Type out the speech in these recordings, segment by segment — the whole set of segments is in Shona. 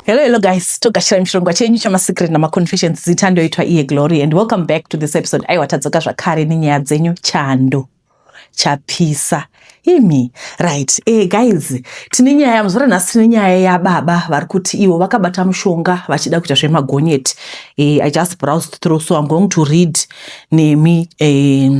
Hello, hello guys. Togashira mishongwa chenyu chama secret na ma confessions zita ndoitwa iye Glory and welcome back to this episode. Aiwa tadzoka zvakare nenyaya dzenyu chando chapisa imi right eh, guys tine nyaya muzvara nhasi tine nyaya yababa vari kuti ivo vakabata mushonga vachida kuita zvemagonyeti eh, i just browsed through so i'm going to read nemi eh,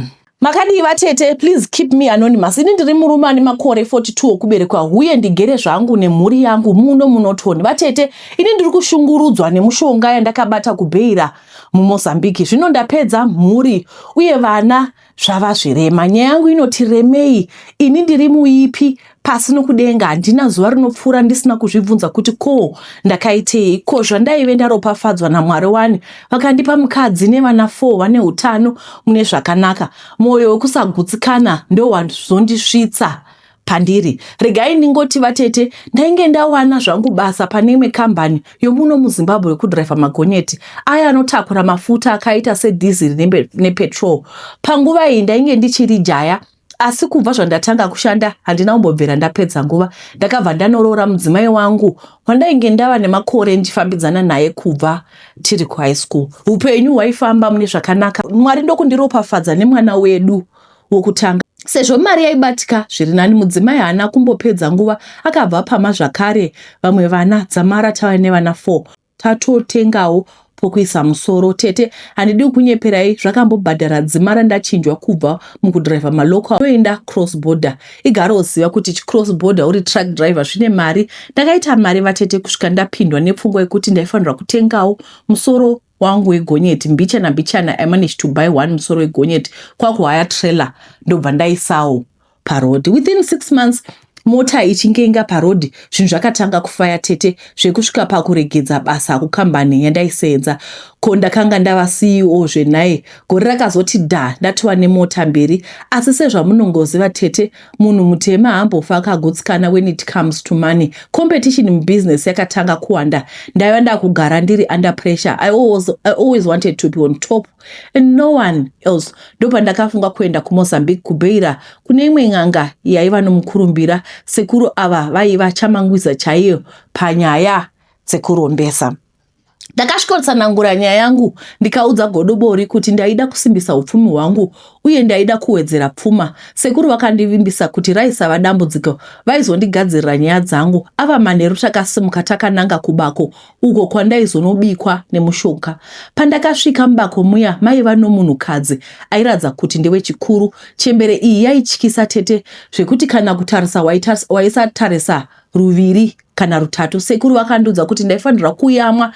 Makadii vatete, please keep me anonymous. Ini ndiri murume ane makore 42 okuberekwa huye ndigere zvangu nemhuri yangu muno muNorton. Vatete, ini ndiri kushungurudzwa nemushonga yandakabata kuBeira muMozambique. Zvino ndapedza mhuri uye vana zvava zvirema. Nyaya yangu inoti remei, ini ndiri muipi, pasi nokudenga handina zuva rinopfuura ndisina kuzvibvunza kuti ko ndakaitei ko zvandaive ndaropafadzwa namwari wani vakandipa mukadzi nevana four vane utano mune zvakanaka mwoyo wekusagutsikana ndowazondisvitsa pandiri regai ndingoti vatete ndainge ndawana zvangu basa pane imwe kambani yomuno muzimbabwe yokudhiraivha magonyeti aya anotakura mafuta akaita sedhiziri nepetrol panguva iyi ndainge ndichiri jaya asi kubva zvandatanga kushanda handina kumbobvira ndapedza nguva ndakabva ndanoroora mudzimai wangu wandainge ndava nemakore ndichifambidzana naye kubva tiri kuhigh school upenyu hwaifamba mune zvakanaka mwari ndokundiropafadza nemwana wedu wokutanga sezvo mari yaibatika zviri nani mudzimai haana kumbopedza nguva akabva pama zvakare vamwe vana dzamara tava nevana four tatotengawo pokuisa musoro tete handidi kukunyeperai zvakambobhadhara dzima randachinjwa kubva mukudriver malocal toenda cross border igare oziva kuti chicross border uri truck driver zvine mari ndakaita mari vatete kusvika ndapindwa nepfungwa yekuti ndaifanirwa kutengawo musoro wangu wegonyeti mbichana mbichana i managed to buy one musoro wegonyeti kwakuhaya trailer ndobva ndaisawo paroad within six months mota ichinge inga paroad zvinhu zvakatanga kufaya tete zvekusvika pakuregedza basa kukambani yandaisenza ko ndakanga ndava ceo zvenhaye gore rakazoti da ndatova nemota mberi asi sezvamunongoziva tete munhu mutema hambofa akagutsikana when it comes to money competition mubusiness yakatanga kuwanda ndaiva ndakugara ndiri under pressure I always, i always wanted to be on top and no one else ndopandakafunga kuenda kumozambique kubeira kune imwe n'anga yaiva nomukurumbira sekuru ava vaiva chamangwiza chaiyo panyaya dzekurombesa ndakasvikotsanangura nyaya yangu ndikaudza godobori kuti ndaida kusimbisa upfumi hwangu uye ndaida kuwedzera pfuma sekuru vakandivimbisa kuti raisava dambudziko vaizondigadzirira nyaya dzangu ava manheru takasimuka takananga kubako uko kwandaizonobikwa nemushonga. Pandakasvika mubako muya maiva nomunhukadzi airatidza kuti ndewechikuru. Chembere iyi yaityisa tete zvekuti kana kutarisa waisatarisa ruviri kana rutatu. Sekuru vakandiudza kuti ndaifanirwa kuyamwa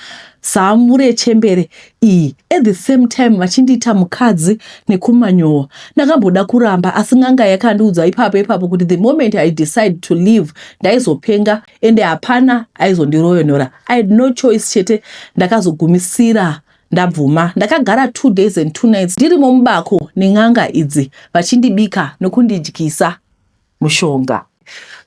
zamu rechembere iyi at the same time vachindiita mukadzi nekumanyowa. Ndakamboda kuramba asi n'anga yakandiudza ipapo ipapo kuti the moment I decide to leave ndaizopenga. ende hapana aizondiroyonora i had no choice chete ndakazogumisira ndabvuma ndakagara two days and two nights ndirimo mubako nen'anga idzi vachindibika nokundidyisa mushonga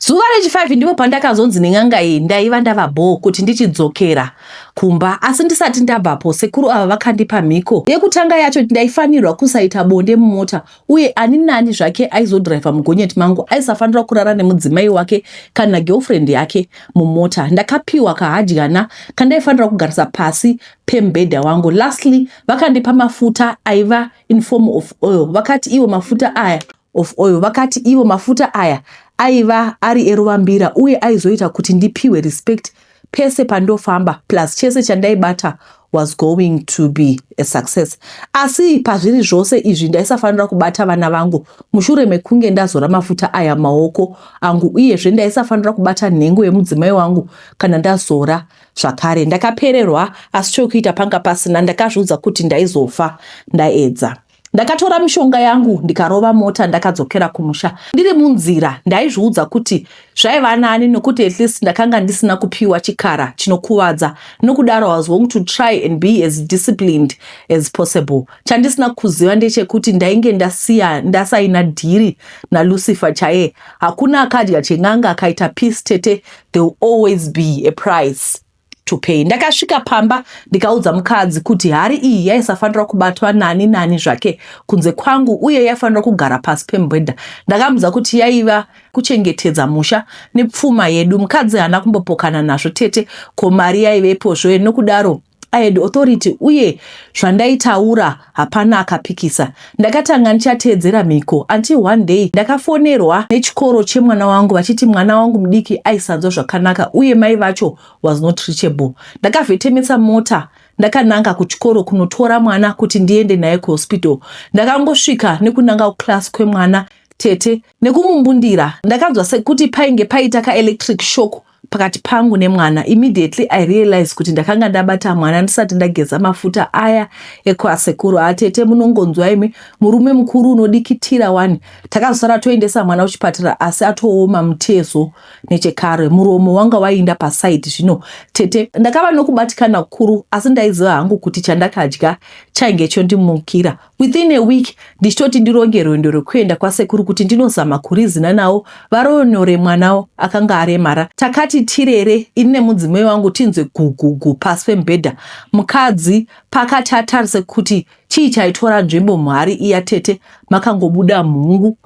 zuva rechifive ndipo pandakazonzi nen'anga iyi ndaiva ndava bhoo kuti ndichidzokera kumba asi ndisati ndabvapo sekuru ava vakandipa mhiko yekutanga yacho ndaifanirwa kusaita bonde mumota uye ani nani zvake aizodhiraivha mugonyeti mangu aisafanira kurara nemudzimai wake kana girlfriend yake mumota ndakapiwa kahadyana kandaifanira kugarisa pasi pemubhedha wangu lastly vakandipa mafuta aiva in form of oil vakati iwo mafuta aya of oil vakati iwo mafuta aya aiva ari eruvambira uye aizoita kuti ndipiwe respect pese pandofamba plus chese chandaibata was going to be a success asi pazviri zvose izvi ndaisafanira kubata vana vangu mushure mekunge ndazora mafuta aya maoko angu uyezve ndaisafanira kubata nhengo yemudzimai wangu kana ndazora zvakare ndakapererwa asi chokuita panga pasina ndakazviudza kuti ndaizofa ndaedza Ndakatora mishonga yangu ndikarova mota ndakadzokera kumusha. Ndiri munzira ndaizviudza kuti zvaiva nani nokuti at least ndakanga ndisina kupiwa chikara chinokuvadza nokudaro was going to try and be as disciplined as possible. Chandisina kuziva ndechekuti ndainge ndasiya ndasaina dhiri naLucifer chaye. Hakuna akadya chen'anga akaita peace tete there will always be a price. to pay. Ndakasvika pamba ndikaudza mukadzi kuti hari iyi yaisafanira kubatwa nani nani zvake kunze kwangu uye yaifanira kugara pasi pemubhedha. Ndakamudza kuti yaiva kuchengetedza musha nepfuma yedu. Mukadzi haana kumbopokana nazvo tete ko mari yaivepo zve nokudaro I had authority uye zvandaitaura Hapana akapikisa ndakatanga ndichateedzera mhiko until one day ndakafonerwa nechikoro chemwana wangu vachiti mwana wangu mudiki aisanzwa zvakanaka uye mai vacho was not reachable. Ndakavhetemesa mota ndakananga kuchikoro kunotora mwana kuti ndiende naye kuhospital. Ndakangosvika nekunanga kuclass kwemwana tete nekumumbundira ndakanzwa sekuti painge paita kaelectric shock pakati pangu nemwana immediately i realize kuti ndakanga ndabata mwana ndisati ndageza mafuta aya ekwasekuru atete ah, munongonzwa imi murume mukuru unodikitira wani takazosara toendesa mwana kuchipatara asi atooma mutezo nechekare muromo wanga wainda pasaidi zvino tete ndakava nokubatikana kukuru asi ndaiziva hangu kuti chandakadya chainge chondimukira Within a week ndichitoti ndironge rwendo rwekuenda kwasekuru kuti ndinozama kurizina nawo varonore mwanawo akanga aremara. Takati tirere ini nemudzimai wangu tinzwe gugugu pasi pemubhedha. Mukadzi pakati atarise kuti chii chaitora nzvimbo muhari iya tete makangobuda mhungu.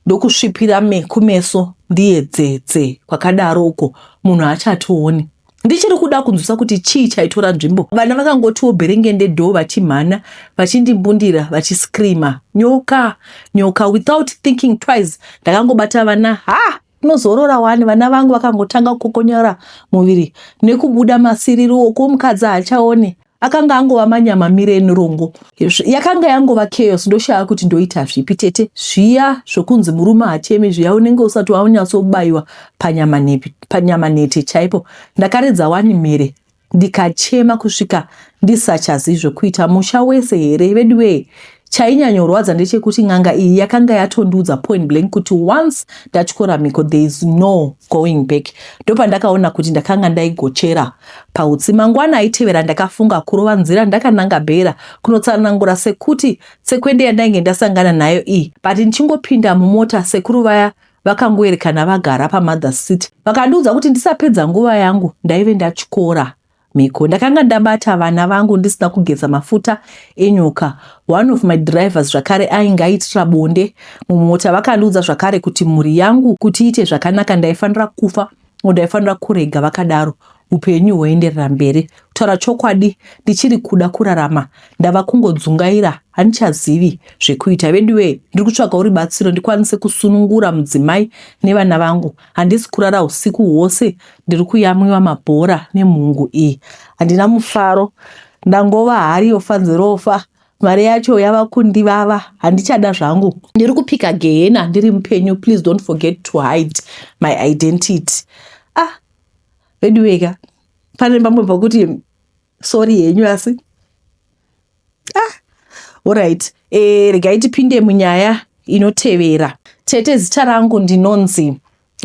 ndokusvipira me kumeso ndiyedzedze kwakadaro uko munhu achatooni ndichiri kuda kunzwisa kuti chii chaitora nzvimbo vana vakangotiwo bherengende dho vachimhana vachindimbundira vachiscreama nyoka nyoka without thinking twice ndakangobata vana ha unozorora wani vana vangu vakangotanga kukokonyora muviri nekubuda masiriri woko mukadzi haachaone akanga angova manyama mire enirongo yakanga yangova chaos ndoshaya kuti ndoita zvipi tete zviya zvokunzi murume hachemi zviya unenge usati waunyatsobaiwa panyama nete chaipo ndakaridza wani mhere ndikachema kusvika ndisachazii zvokuita musha wese here veduwee Chainyanyorwadza ndechekuti n'anga iyi yakanga yatondiudza point blank kuti once ndatyora mhiko there is no going back. Ndopandakaona kuti ndakanga ndaigochera pautsi. Mangwana aitevera ndakafunga kurova nzira ndakananga Bhera kunotsanangura sekuti tsekwende yandainge ndasangana nayo iyi but ndichingopinda mumota sekuru vaya vakangoerekana vagara pamother's seat vakandiudza kuti ndisapedza nguva yangu ndaive ndatyora Mhiko. Ndakanga ndabata vana vangu ndisina kugeza mafuta enyoka. One of my drivers zvakare ainge aitira bonde mumota vakandiudza zvakare kuti mhuri yangu kuti iite zvakanaka ndaifanira kufa ngo ndaifanira kurega vakadaro upenyu hwoenderera mberi. Kutaura chokwadi ndichiri kuda kurarama ndava kungodzungaira handichazivi zvekuita. Veduwee ndiri kutsvagawo ribatsiro ndikwanise kusunungura mudzimai nevana vangu. handisi kurara husiku hwose ndiri kuyamwiwa mabhora nemhungu iyi handina mufaro ndangova hari yofanzirofa mari yacho yava kundivava handichada zvangu ndiri kupika gehena ndiri mupenyu please don't forget to hide my identity ah veduweka pane pamwe pakuti sorry henyu asi ah orit e, eh, regai tipinde munyaya inotevera tete zita rangu ndinonzi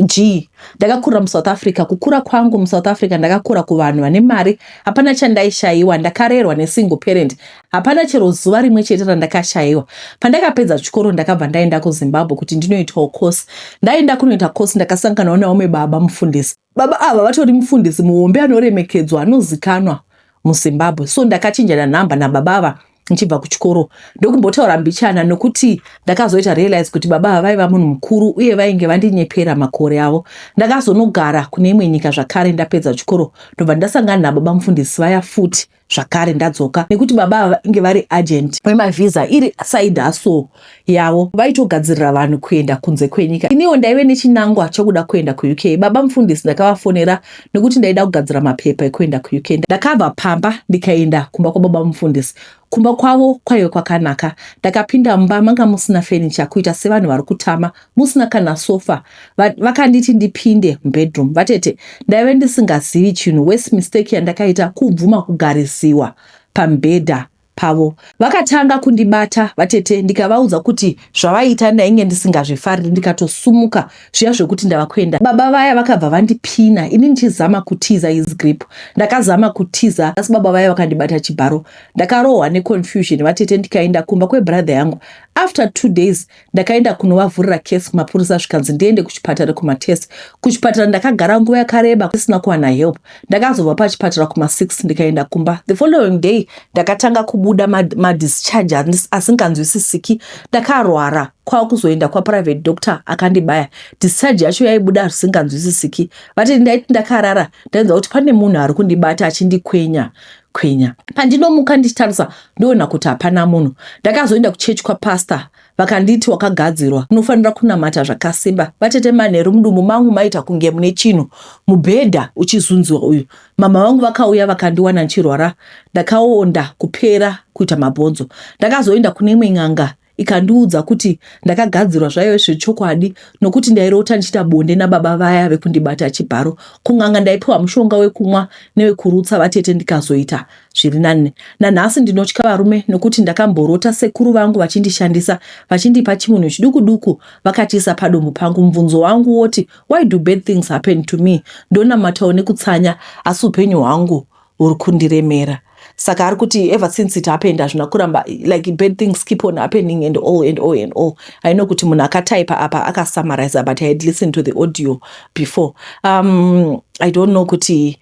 g ndakakura musouth africa kukura kwangu musouth africa ndakakura kuvanhu vane mari hapana chandaishayiwa ndakarerwa nesingle parent hapana chero zuva rimwe chete randakashayiwa pandakapedza chikoro ndakabva ndaenda kuzimbabwe kuti ndinoitawo course ndaenda kunoita course ndakasanganawo naome baba mufundisi Baba ava vatori mufundisi muhombe anoremekedzwa anozikanwa muZimbabwe so ndakachinjana nhamba nababa ava ndichibva kuchikoro ndokumbotaura mbichana nokuti ndakazoita realize kuti baba ava vaiva munhu mukuru uye vainge vandinyepera makore avo ndakazonogara kune imwe nyika zvakare ndapedza chikoro ndobva ndasangana nababa mufundisi vaya futi zvakare ndadzoka nekuti baba ava vainge vari agent wemavhiza iri side hustle yavo vaitogadzirira vanhu kuenda kunze kwenyika iniwo ndaive nechinangwa chokuda kuenda kuuk baba mufundisi ndakavafonera nekuti ndaida kugadzira mapepa ekuenda kuuk ndakabva pamba ndikaenda kumba kwababa mufundisi kumba kwavo kwaive kwakanaka ndakapinda mumba manga musina fenicha kuita sevanhu vari kutama musina kana sofa vakanditi ndipinde mubedroom vatete ndaive ndisingazivi chinhu wes mistake yandakaita kubvuma kugarisiwa pamubhedha pavo vakatanga kundibata vatete ndikavaudza kuti zvavaiita ndainge ndisingazvifariri ndikatosumuka zviya zvekuti ndava kuenda baba vaya vakabva vandipina ini ndichizama kutiza his grip ndakazama kutiza asi baba vaya vakandibata chibharo ndakarohwa neconfusion vatete ndikaenda kumba kwebrother yangu after two days Ndakaenda kunovavhurira case kumapurisa zvikanzi ndiende kuchipatara kumatest. Kuchipatara ndakagara nguva yakareba kusina kuwana help. Ndakazobva pachipatara kuma 6 ndikaenda kumba. The following day ndakatanga kubuda madischarge ma asinganzwisisiki. Ndakarwara kwava kuzoenda kwaprivate doctor akandibaya. Discharge yacho yaibuda zvisinganzwisisiki. Vati ndaiti ndakarara ndainzwa kuti pane munhu ari kundibata achindikwenya kwinya. Pandinomuka ndichitarisa ndoona kuti hapana munhu. Ndakazoenda kuchechi kwapastor vakanditi wakagadzirwa unofanira kunamata zvakasimba. Vatete manheru mudumbu mangu maita kunge mune chinhu mubhedha uchizunziwa uyu. Mama vangu vakauya vakandiwana ndichirwara ndakaonda kupera kuita mabhonzo. Ndakazoenda kune imwe n'anga ikandiudza kuti ndakagadzirwa zvaive zviri chokwadi nokuti ndairota ndichiita bonde nababa vaya vekundibata chibharo kun'anga ndaipiwa mushonga wekumwa newekurutsa vatete ndikazoita zviri nani nanhasi ndinotya varume nokuti ndakamborota sekuru vangu vachindishandisa vachindipa chimunhu chiduku duku vakatiisa padumbu pangu mubvunzo wangu woti why do bad things happen to me ndonamatawo nekutsanya asi upenyu hwangu uri kundiremera saka ari kuti ever since it happened hazvina kuramba like bad things keep on happening and all and all and all i know kuti munhu akataipa apa akasummariza but i had listened to the audio before um, i don't know kuti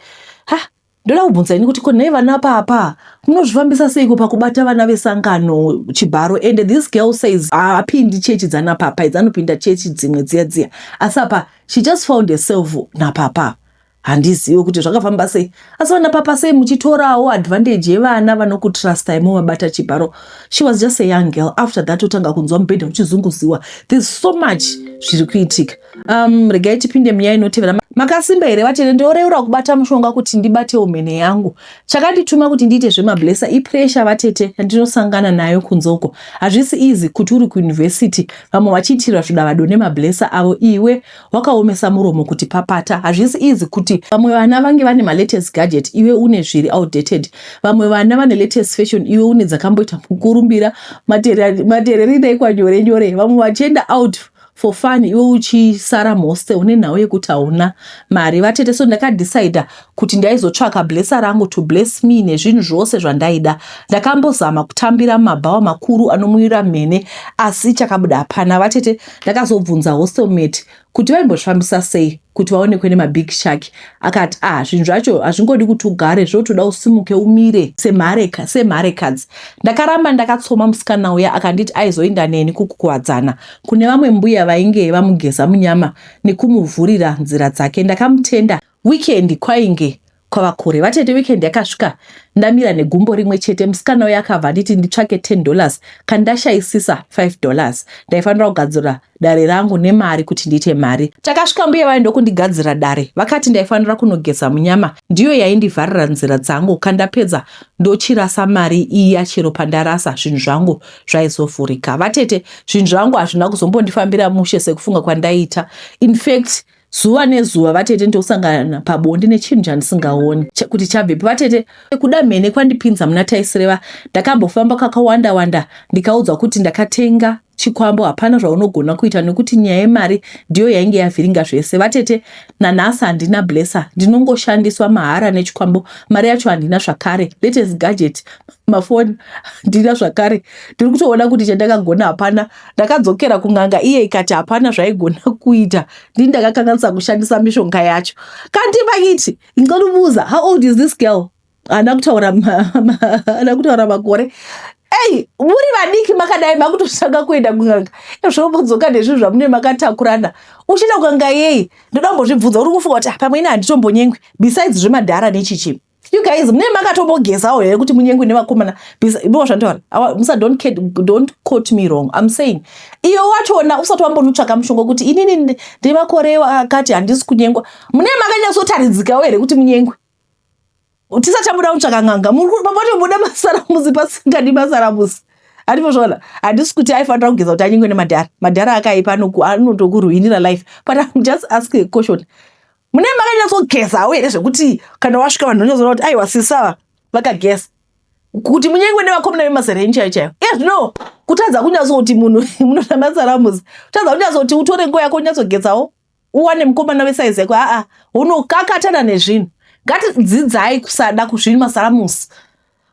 ha ndoda kubvunza ini kuti ko nei vana papa munozvifambisa seiko pakubata vana vesangano chibharo and this girl says haapindi ah, chechi dzana papa idzi anopinda chechi dzimwe dziya dziya asi apa she just found herself napapa handizive kuti zvakafamba sei asi vana papa sei muchitorawo advantage yevana vanokutrustai movabata chibharo she was just a young girl after that otanga kunzwa mubhedha uchizunguziwa there's so much zviri kuitika um, regai tipinde munyaya inotevera makasimba here vatende ndoreura kubata mushonga kuti ndibatewo mhene yangu chakandituma kuti ndiite zvemablesa ipresha vatete yandinosangana nayo kunzoko hazvisi easy kuti uri kuyunivhesiti vamwe vachiitirwa zvidavado nemablesa avo iwe wakaomesa muromo kuti papata hazvisi easy kuti vamwe vana vange vane malatest gadget iwe une zviri outdated vamwe vana vane latest fashion iwe une dzakamboita mukurumbira matereri daikwa nyore nyore vamwe vachienda out for fun iwe uchisara mhostel une nhau yekuti hauna mari vatete so ndakadecide kuti ndaizotsvaka blesser rangu to bless me nezvinhu zvose zvandaida. Ndakambozama kutambira mumabhawa makuru anomuyura mhene asi chakabuda hapana. Vatete ndakazobvunza hostelmate kuti vaimbozvifambisa sei kuti vaonekwe nemabig shark akati ah zvinhu zvacho hazvingodi kuti ugare zvotoda usimuke umire semhareka semharekadzi ndakaramba ndakatsoma musikana uya akanditi aizoinda neni kukukuwadzana kune vamwe mbuya vainge vamugeza munyama nekumuvhurira nzira dzake ndakamutenda Weekend kwainge kwava kure. Vatete weekend yakasvika ndamira negumbo rimwe chete. Musikana uya akabva anditi nditsvake 10 dollars kandashaisisa 5 dollars. Ndaifanira kugadzira dare rangu nemari kuti ndiite mari. Takasvika mbuya vaye ndokundigadzira dare. Vakati ndaifanira kunogeza munyama ndiyo yaindivharira nzira dzangu kandapedza ndochirasa mari iya chero pandarasa zvinhu zvangu zvaizovhurika. Vatete zvinhu zvangu hazvina kuzombondifambira mushe sekufunga kwandaiita. In fact zuva nezuva vatete ndosangana pabonde nechinhu chandisingaoni kuti chabvepi vatete kuda mhene kwandipinza muna taisireva ndakambofamba kakawanda wanda ndikaudzwa kuti ndakatenga chikwambo hapana zvaunogona kuita nekuti nyaya yemari ndiyo yainge yavhiringa zvese vatete nanhasi handina blesser ndinongoshandiswa mahara nechikwambo mari yacho handina zvakare latest gadget mafoni handina zvakare ndiri kutoona kuti chandakagona hapana Ndakadzokera kun'anga iye ikati hapana zvaigona kuita ndini ndakakanganisa kushandisa mishonga yacho. Kanti vakiti ndicela kubuza how old is this girl? Haana kutaura haana kutaura makore. Hey, muri vadiki makadai makutotanga kuenda kun'anga ezvo mudzoka nezvinhu zvamune makatakurana uchienda kun'anga yei ndoda kumbozvibvunza uri kufunga kuti ah, pamwe ini handitombonyengwi besides zvemadhara nechichi you guys mune makatobogezawo here kuti munyengwe nevakomana bcause zvandaura awa musa don't, kid, don't quote me wrong i'm saying iyo wachona usati wambonutsvaka mushonga kuti inini ndine makore akati handisi kunyengwa mune makanyatsotaridzikawo here kuti munyengwe tisati tabuda kutsvaka n'anga matobuda masaramuzi pasingadi masaramuzi andipozvaona handisi kuti aifanira kugeza kuti anyengwe nemadhara madhara akaipa anotokuruinira life but im just ask a question munee makanyatsogeza hau here zvekuti kana wasvika vanhu vanyatsona kuti aiwa sisava vakageza kuti munyengwe nevakomana vemazera enyu chaiyo chaiyo iye zvino kutadza kunyatsoti munhu munoda masaramuzi kutadza kunyatsoti utore nguva yako unyatsogetsawo uwane mukomana wesaizi yako aa unokakatana nezvinhu ngatidzidzai kusada kuzviri masaramuzi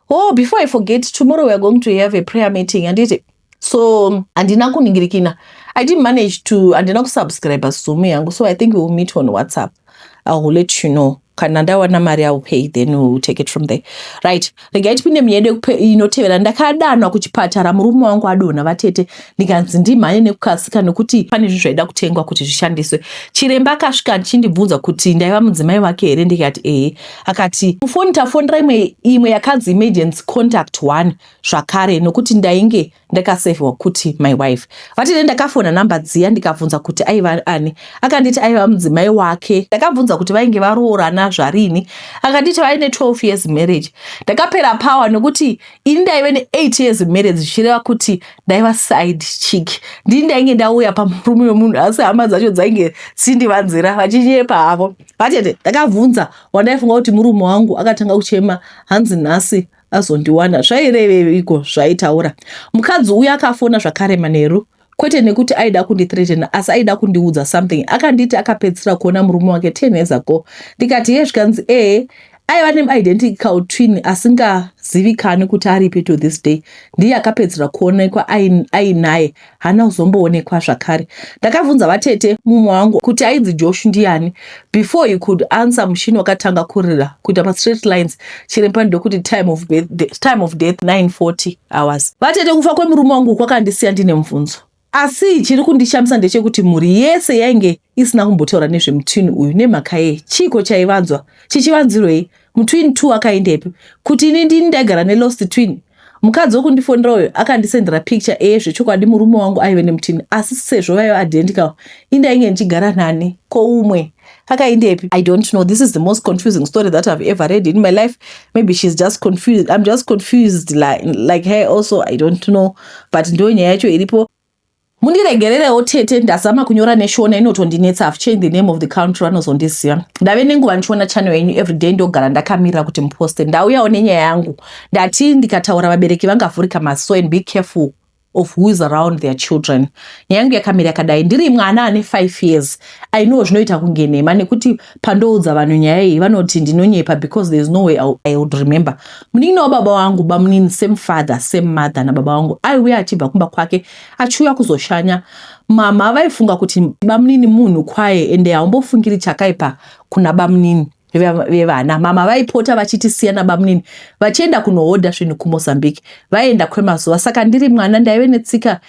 oh before i forget tomorrow weare going to have a prayer meeting handiti so handina kuningirikina i didn't manage to handina kusubscribe zoom yangu so i think we will meet on whatsapp i will let you know kana ndawana mari i will pay then we will take it from there right regai tipinde muyedu inotevera ndakadanwa kuchipatara murume wangu adonha vatete ndikanzi ndimhanye nekukasika nekuti pane zvinhu zvaida kutengwa kuti zvishandiswe chiremba akasvika ndichindibvunza kuti ndaiva mudzimai wake here ndikati ehe Akati mufoni tafonera imwe imwe yakanzi emergency contact one zvakare nokuti ndainge ndakasevhiwa kuti my wife. Vatete ndakafona number dziya ndikabvunza kuti aiva ani. Akanditi aiva mudzimai wake. Ndakabvunza kuti vainge varoorana zvarini. Akanditi vaine 12 years marriage. Ndakapera power nokuti ini ndaive ne 8 years marriage zvichireva kuti ndaiva side chick. Ndini ndainge ndauya pamurume wemunhu asi hama dzacho dzainge dzindivanzira vachinyepa havo. Vatete, ndakabvunza wandaifunga kuti murume wangu akatanga kuchema hanzi nhasi azondiwana. Zvaireveiko zvaitaura? Mukadzi uya akafona zvakare manheru kwete nekuti aida kundithreatena asi aida kundiudza something akanditi akapedzisira kuona murume wake ten years ago ndikati ye zvikanzi ee aiva neidentical twin asingazivikanwi kuti aripi to this day ndiye akapedzera kuonekwa ainaye haana kuzomboonekwa zvakare ndakabvunza vatete mumwe wangu kuti ainzi josh ndiyani before he could answer mushini wakatanga kurira kuita mastraight lines chiremba ndokuti time of, time of death 940 hours vatete kufa kwemurume wangu kwakandisiya ndine mubvunzo Asi chiri kundishamisa ndechekuti mhuri yese yainge isina kumbotaura nezvemutwin uyu nemhaka yei? Chiiko chaivanzwa? Chichivanzirwei? Mutwin two akaendepi? Kuti ini ndini ndaigara nelost twin? Mukadzi wokundifonera uyo akandisendera picture eye zvechokwadi murume wangu aive nemutwin asi sezvo vaiva identical indainge ndichigara nani ko umwe? akaindepi i don't know this is the most confusing story that i've ever read in my life maybe she's just confused i'm just confused like, like her also i don't know but ndo nyaya yacho iripo mundiregererewo tete ndazama kunyora neshona inotondinetsa have changed the name of the country vanozondiziva ndave nenguva ndichiona channel yenyu everyday ndogara ndakamirira kuti muposte ndauyawo nenyaya yangu ndati ndikataura vabereki vangavhurika maso and be careful of who is around their children nyaya yangu yakamira yakadai ndiri mwana ane five years i know zvinoita kunge nhema nekuti pandoudza vanhu nyaya iyi vanoti ndinonyepa because there is no way i would remember munin'ina wababa wangu bamunini same father same mother nababa wangu aiuya achibva kumba kwake achiuya kuzoshanya mama vaifunga kuti bamunini munhu kwaye ende haumbofungiri chakaipa kuna bamunini vevana mama vaipota vachitisiya nabamnini vachienda kunohodha zvinhu kumozambique vaienda kwemazuva saka ndiri mwana ndaive netsika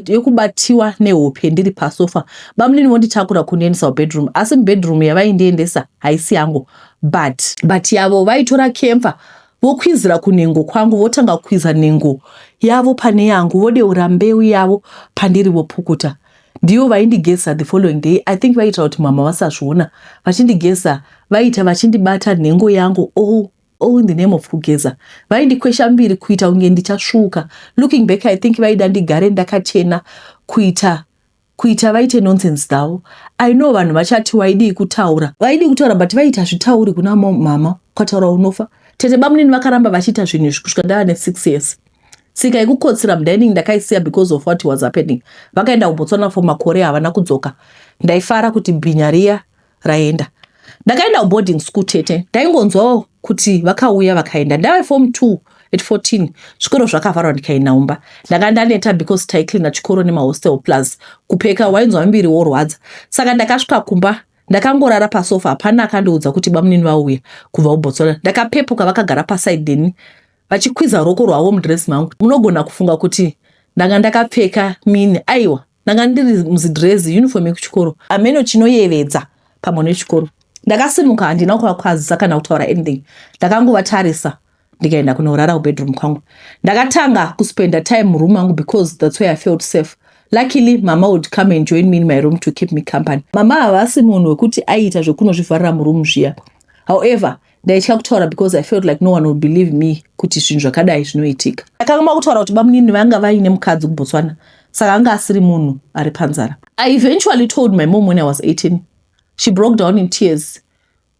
yekubatiwa nehope ndiri pasofa bamnini vonditakura kundiendesa kubedroom asi mubedroom yavaindiendesa haisi yangu but but yavo vaitora kemfa vokwizira kunhengo kwangu votanga kukwiza nhengo yavo pane yangu vodeura mbeu yavo pandiri vopukuta Ndivo vaindigeza the following day I think vaitira kuti mama vasazviona vachindigeza vaita vachindibata nhengo yangu all all in the name of kugeza vaindikwesha mbiri kuita kunge ndichasvuuka looking back I think vaida ndigare ndakachena kuita kuita vaite nonsense dzavo I know vanhu vachati waidii kutaura vaidii kutaura but vaita zvitauri kuna mom mama ukataura unofa tete bamunini vakaramba vachiita zvinhu izvi kusvika ndava ne six years tsika yekukotsira mudining ndakaisiya because of what was happening vakaenda kubotswana for makore havana kudzoka ndaifara kuti bhinya riya raenda ndakaenda kuboarding school tete ndaingonzwawo kuti vakauya vakaenda ndave form two at 14 zvikoro zvakavharwa ndikaenda umba ndanga ndaneta because taiclina chikoro nemahostel plus kupeka wainzwa miviri worwadza saka ndakasvika kumba ndakangorara pasofa hapana akandiudza kuti bamunini vauya kubva kubotswana ndakapepuka vakagara paside deni vachikwiza ruoko rwavo mudress mangu munogona kufunga kuti ndanga ndakapfeka mini aiwa ndanga ndiri muzidress uniform yekuchikoro ameno chinoyevedza pamwe nechikoro ndakasimuka handina kuvakwazisa kana kutaura anything ndakangovatarisa ndikaenda kunorara kubedroom kwangu ndakatanga kuspenda time muroom mangu because thats where i felt safe luckily mama would come and join me in my room to keep me company mama havasi munhu wekuti aiita zvekunozvivharira muroom zviya however ndaitya kutaura because i felt like no one will believe me kuti zvinhu zvakadai zvinoitika ndakanga makutaura kuti bamunini vanga vaine mukadzi kubotswana saka anga asiri munhu ari panzara i eventually told my mom when i was 18 she broke down in tears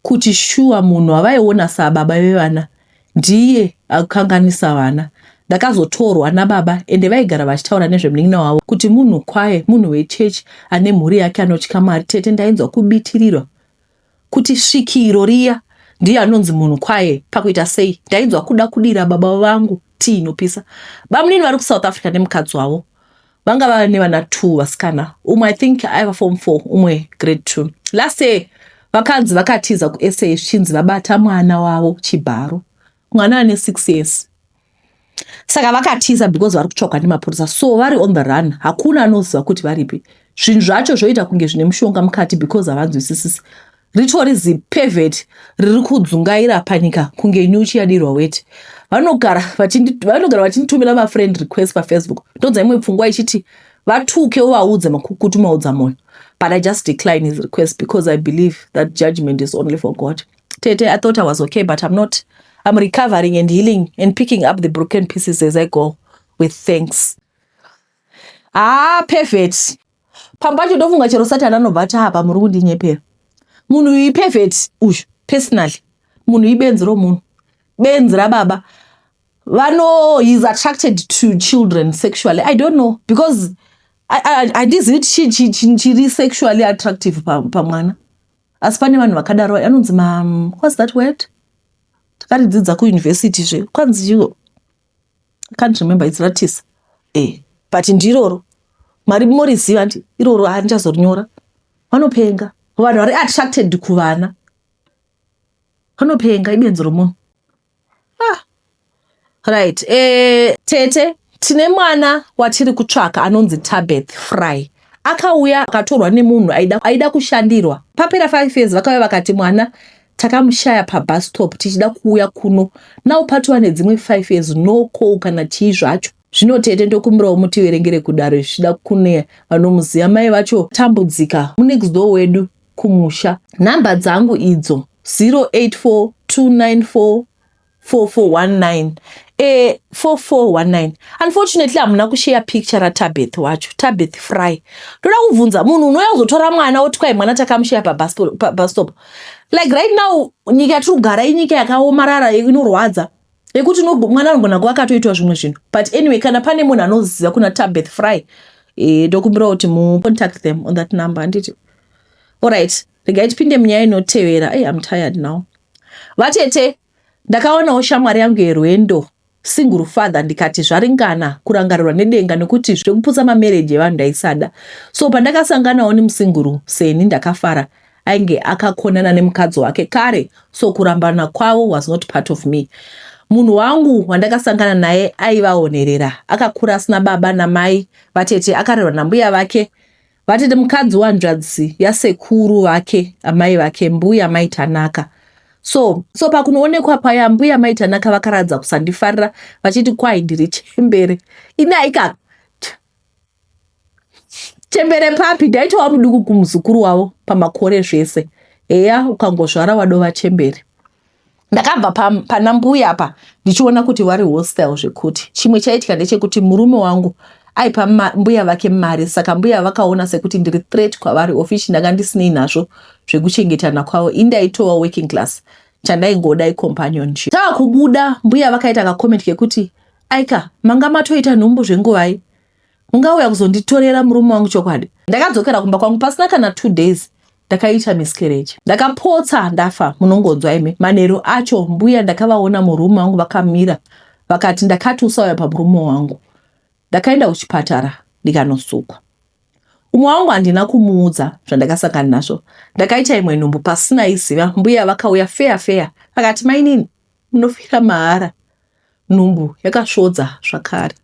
kuti shuwa munhu avaiona sababa vevana ndiye akukanganisa vana ndakazotorwa nababa ende vaigara vachitaura nezvemunin'ina wavo kuti munhu kwaye munhu wechechi ane mhuri yake anotya mwari tete ndainzwa kubitirirwa Kuti svikiro riya ndiye anonzi munhu kwaye pakuita sei ndainzwa kuda kudira baba vangu tii inopisa. Bamunini vari kuSouth Africa nemukadzi wavo vanga vava nevana two vasikana umwe I think aiva form four umwe grade two. Last year vakanzi vakatiza kuSA zvichinzi vabata mwana wavo chibharo mwana ane six years. saka vakatiza because vari kutsvagwa nemapurisa so vari on the run hakuna anoziva kuti varipi zvinhu zvacho zvoita kunge zvine mushonga mukati because havanzwisisisi ritori zipevheti riri kudzungaira panyika kunge nyuchi yadirwa weti vanogara vachinditumira mafriend request pafacebook ndonza imwe pfungwa ichiti vatuke uvaudze makukutu maudza moyo but i just decline his request because i believe that judgment is only for god Tete, I thought I was okay, but I'm not. I'm recovering and healing and picking up the broken pieces as I go with thanks. Ah, perfect. Pamba cho ndofunga chero Satan anobva apa muri kundinyepera. Munhu uyu perfect uyu personally. Munhu ibenzi ro munhu. Benzi ra baba. Vano he's attracted to children sexually. I don't know because I I I this it she she she sexually attractive pa pa mwana. asi pane vanhu vakadaro anonzi ma what's that word takaridzidza kuuniversity zve kwanzi iwo i can't remember its ratisa e eh, but ndiroro mwari moriziva ndi iroro handichazorinyora vanopenga vanhu vari attracted kuvana vanopenga ibenzi romunhu ah. right eh, tete tine mwana watiri kutsvaka anonzi tabeth fry akauya akatorwa nemunhu aida, aida kushandirwa papera five years vakauya vakati mwana takamushaya pabus stop tichida kuuya kuno now patova nedzimwe five years no call kana chii zvacho zvino tete ndokumbirawo mutiverengere kudaro zvichida kune vanomuziva mai vacho tambudzika munext door wedu kumusha. Number dzangu idzo 0842944419 eh 4419 unfortunately hamuna kusheya picture ratabeth wacho tabeth fry ndoda kubvunza munhu unouya kuzotora mwana woti kwai mwana takamusheya pabastop like right now nyika yatiri kugara inyika yakaomarara inorwadza yekuti mwana anogona kuva akatoitwa zvimwe zvinhu but anyway kana pane munhu anoziva kuna tabeth fry eh, ndokumbirawo kuti mucontact them on that number handiti allright regai tipinde munyaya inotevera hey, im tired now vatete ndakaonawo shamwari yangu yerwendo single father ndikati zvaringana kurangarirwa nedenga nekuti zvekuputsa mamereji evanhu ndaisada so pandakasanganawo nemusinguru seni ndakafara ainge akakonana nemukadzi wake kare so kurambana kwavo was not part of me munhu wangu wandakasangana naye aivaonerera akakura asina baba namai vatete akarerwa nambuya vake vatete mukadzi wanzvadzi yasekuru vake amai vake mbuya maitanaka so so pakunoonekwa paya mbuya maitanaka vakaradza kusandifarira vachiti kwai ndiri chembere ini aikaka chembere papi ndaitova muduku kumuzukuru wavo pamakore zvese heya ukangozvara wadova chembere ndakabva pana mbuya apa ndichiona kuti vari hostile zvekuti chimwe chaitika ndechekuti murume wangu aipa mbuya vake mari saka mbuya vakaona sekuti ndiri threat kwavari ofici ndanga ndisinei nazvo zvekuchengetana kwavo indaitova working class chandaingoda icompanion tava kubuda mbuya vakaita kacomment kekuti Aika, manga matoita nhumbu zvenguvai? Mungauya kuzonditorera murume wangu chokwadi? Ndakadzokera kumba kwangu pasina kana two days ndakaita miscarriage. Ndakapotsa ndafa munongonzwa imi. Manheru acho mbuya ndakavaona murume wangu vakamira vakati ndakati usauya pamurume wangu. Ndakaenda kuchipatara ndikanosukwa. Umwe wangu handina kumuudza zvandakasangana nazvo. Ndakaita imwe nhumbu pasina iziva mbuya vakauya feya feya vakati mainini munofira mahara Nhumbu yakasvodza zvakare.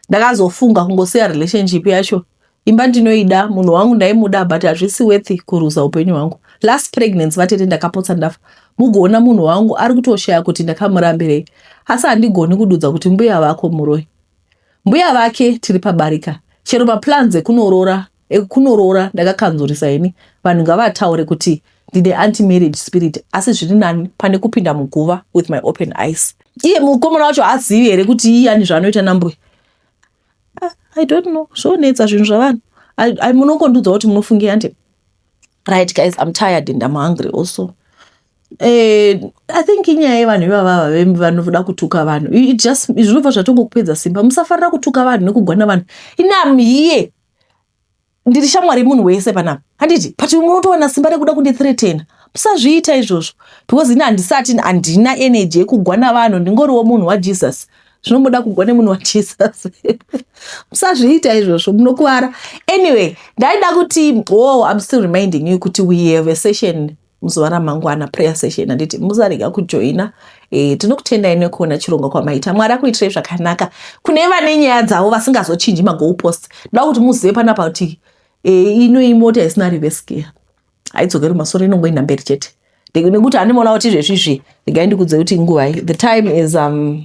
Ndakazofunga kungosiya relationship yacho. Imba ndinoida, munhu wangu ndaimuda but hazvisi worth kuruza upenyu hwangu. Last pregnancy vatete ndakapotsa ndafa. Mugoona munhu wangu ari kutoshaya kuti ndakamurambirei. Asi handigoni kududza kuti mbuya vako muroi. Mbuya vake tiri pabarika. Chero maplans ekunoroora ekunoroora ndakakanzurisa ini vanhu ngavataure kuti ndine anti marriage spirit asi zviri nani pane kupinda muguva with my open eyes iye mukomana wacho haazivi here kuti iyani zvaanoita nambuya ah, i don't know zvonetsa zvinhu zvavanhu munongondiudza kuti munofungira nde right guys im tired and im hungry also Eh, i think inyaya yevanhu ivavava vanoda kutuka vanhu zvinobva zvatongokupedza simba musafarira kutuka vanhu nekugwana vanhu inam here ndiri shamwari yemunhu wese panapa handiti but umwe unotowana simba rekuda kundithreatena musazviita izvozvo because ini handisati handina energy yekugwa navanhu ndingoriwo munhu wajesus zvinomuda kugwa nemunhu wajesus musazviita izvozvo munokuvara anyway ndaida kuti wo oh, im still reminding you kuti we have a session muzuva ramangwana prayer session handiti musarega kujoina e, tinokutendai nekuona chirongwa kwamaita mwari akuitirai zvakanaka kune vane nyaya dzavo vasingazochinji magoal post ndoda kuti muzive panapa kuti e, ino imota isina rivesikia haidzokeri masoro inongoenda mberi chete nekuti animoona kuti izvezvi izvi regai ndikudze kuti nguvai the time is um,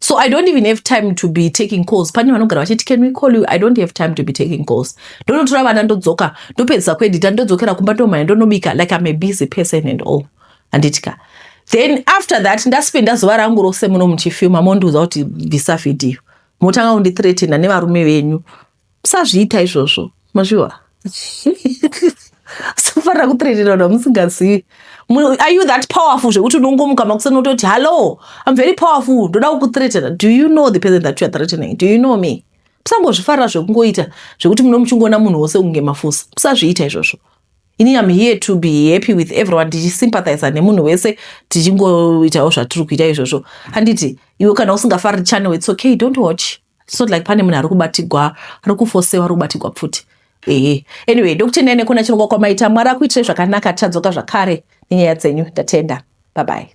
so i don't even have time to be taking calls pane vanogara vachiti can we call you i don't have time to be taking calls ndonotora vana ndodzoka ndopedzisa kuedita ndodzokera kumba ndomhanya ndonobika like i'm a busy person and all handitya then after that ndaspenda zuva rangu rose muno muchifilma mondiudza kuti bvisa vhidhiyo motanga kundithreatena nevarume venyu musazviita izvozvo mazviwa safanira kutrerera vanhu vamusingazivi are you that powerful zvekuti unongomuka makuseni utoti hallo im very powerful ndoda kukutretera do you know the person that youare threatening do you know me musangozvifarira zvekungoita zvekuti muno muchingoona munhu wose kunge mafusa musazviita izvozvo ini am here to be happy with everyone ndichisympathiza nemunhu wese tichingoitawo zvatiri kuita izvozvo handiti iwe kana usingafariri channel its okay don't watch It's not like pane munhu ari kubatigwa ari kufosewa ari kubatigwa pfuti ehe anyway dr nene kuna chirongwa kwamaita mwari akuitirei zvakanaka tichadzoka zvakare nenyaya dzenyu ndatenda babai